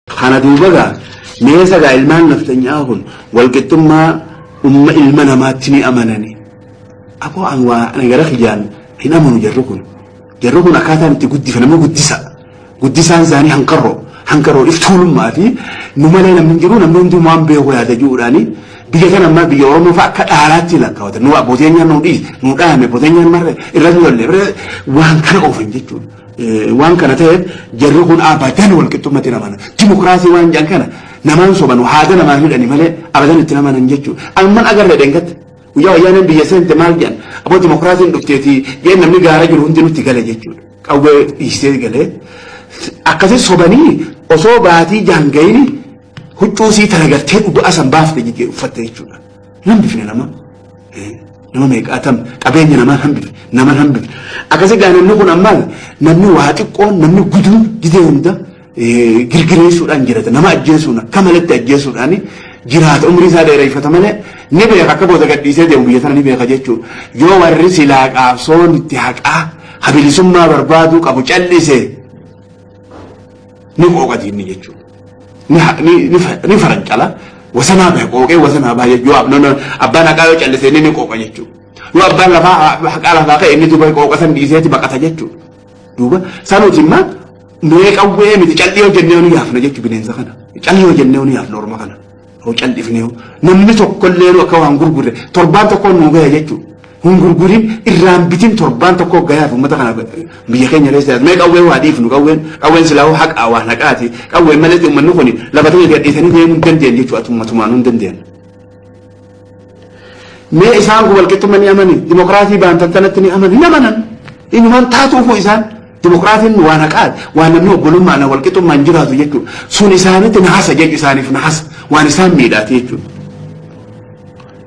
Kana duuba gaa meesa gaa ilmaan nafxanyaa kun walqixxummaa umma ilma namaatti ni amanani. Aboo an waa ani gara kiyyaan hin amanu jarri kun. Jarri kun akkaataan itti guddifan nama guddisa. Guddisaan isaanii hanqarroo. Hanqarroo iftuulummaa fi nu malee namni hin jiru namni hunduu waan beeku yaada jiruudhaani. Biyya kana ammaa biyya Oromoo fa'a akka dhaalaatti lakkaawatan. Nu abbootiin nyaannu nu dhiise nu dhaame abbootiin nyaannu marre irratti lolle waan kana oofan jechuudha. Waan kana ta'eef jarri kun abadan walqixxummatti hin amana. Dimokiraasii waan jedhan kana namaan sobanu haada namaan hidhani malee abadan itti namanan jechuudha. Amman agarre dheengatte. Guyyaa wayyaaneen biyya seente maal jedhan aboo dimokiraasiin dhufteeti jee namni gaara jiru hundi nutti gale jechuudha. Qawwee dhiisee galee akkasii sobanii osoo baatii jaangayini huccuu sii taragartee dhugaa san baafte uffatte jechuudha. Hambifne nama. Nama meeqaatam qabeenya namaa hambifne nama hambifne. Akkasii gaa namni kun ammaa namni waa xiqqoon namni guduun gidee hunda girgireessuudhaan jiraata. Nama ajjeesuun akka malatti ajjeesuudhaan jiraata umrii isaa dheereeffata malee ni beeka akka booda gadhiisee deemu biyya sana ni beeka jechuudha. Yoo warri silaa qaabsoon itti haqaa habilisummaa barbaaduu qabu callisee ni qooqati inni jechuun ni ha- ni- ni fa- ni farancala wasanaa bahe qooqee wasanaa bahe yoo ab- nama- abbaan haqaa yoo callise inni ni qooqa jechuudha yoo abbaan lafaa ha- haqaa lafaa ka'e inni duuba qooqa san dhiiseeti baqata jechuudha duuba sanuuti immaa mee qawwee miti calli yoo jennee ni yaafna jechuudha bineensa kana calli yoo jennee ni yaafna orma kana Hoo caldhifnee hoo namni tokkollee akka waan gurgurre torbaan tokkoon nuu gaya jechuudha. Hin gurgurin irraan bitin torbaan tokkoo gayaaf uummata kana biyya keenya keessa mee qawwee waa dhiifnu qawween qawween silaa hoo haqaa waan haqaati qawween malee uummanni kun lafa ta'e gadhiisanii deemuu hin dandeenye jechuudha atummaa tumaan hin dandeenye. Mee isaan kun walqixxumma ni amani? Dimokiraasii baantattanatti ni amani? Hin amanan. Inumaan taatuufuu isaan dimokiraasiin waan haqaati. Waan namni obbolummaan walqixxummaan jiraatu jechuudha. Sun isaanitti nahasa jechu isaaniif nahasa. Waan isaan miidhaati jechuudha.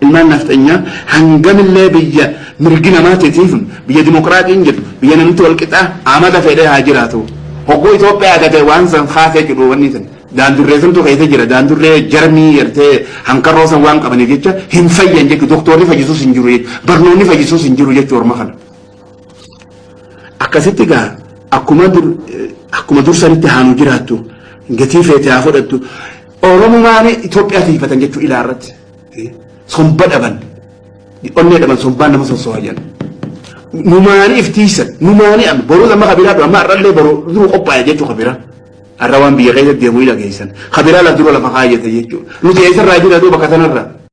Ilmaan nafxanyaa hangamillee biyya mirgi namaa titiifun biyya dimokiraatiin jedhu biyya namni walqixaa amata fedhee haa jiraatu. Hogguu Itoophiyaa gatee waan san haasee jedhu wanni sun. Daandurree santu keessa jira. Daandurree jarmii gartee hankarroo san waan qabaniif jecha hin fayyan jechu. Doktoorri fayyisus hin jiru jechu. Barnoonni fayyisus hin jiru jechu orma kana. Akkasitti gaa akkuma dur akkuma dur sanitti haanu jiraattu gatii feete haa fudhattu. Oromumaan Itoophiyaa tiifatan jechuu ilaa irratti. Somba dhaban. Onnee dhaban sombaan nama sossoha jedhan. Numaanii iftiisan. Numaanii amma. Boruu amma kabiraa dha. Amma har'allee boruu duruu qophaa'e jechuu kabiraa. Arra waan biyya keessatti deemu ni dhageessan. Ka biraa laf dura lafa kaayyatan jechuudha. Nuti eessarraa jira doo bakka tanarra?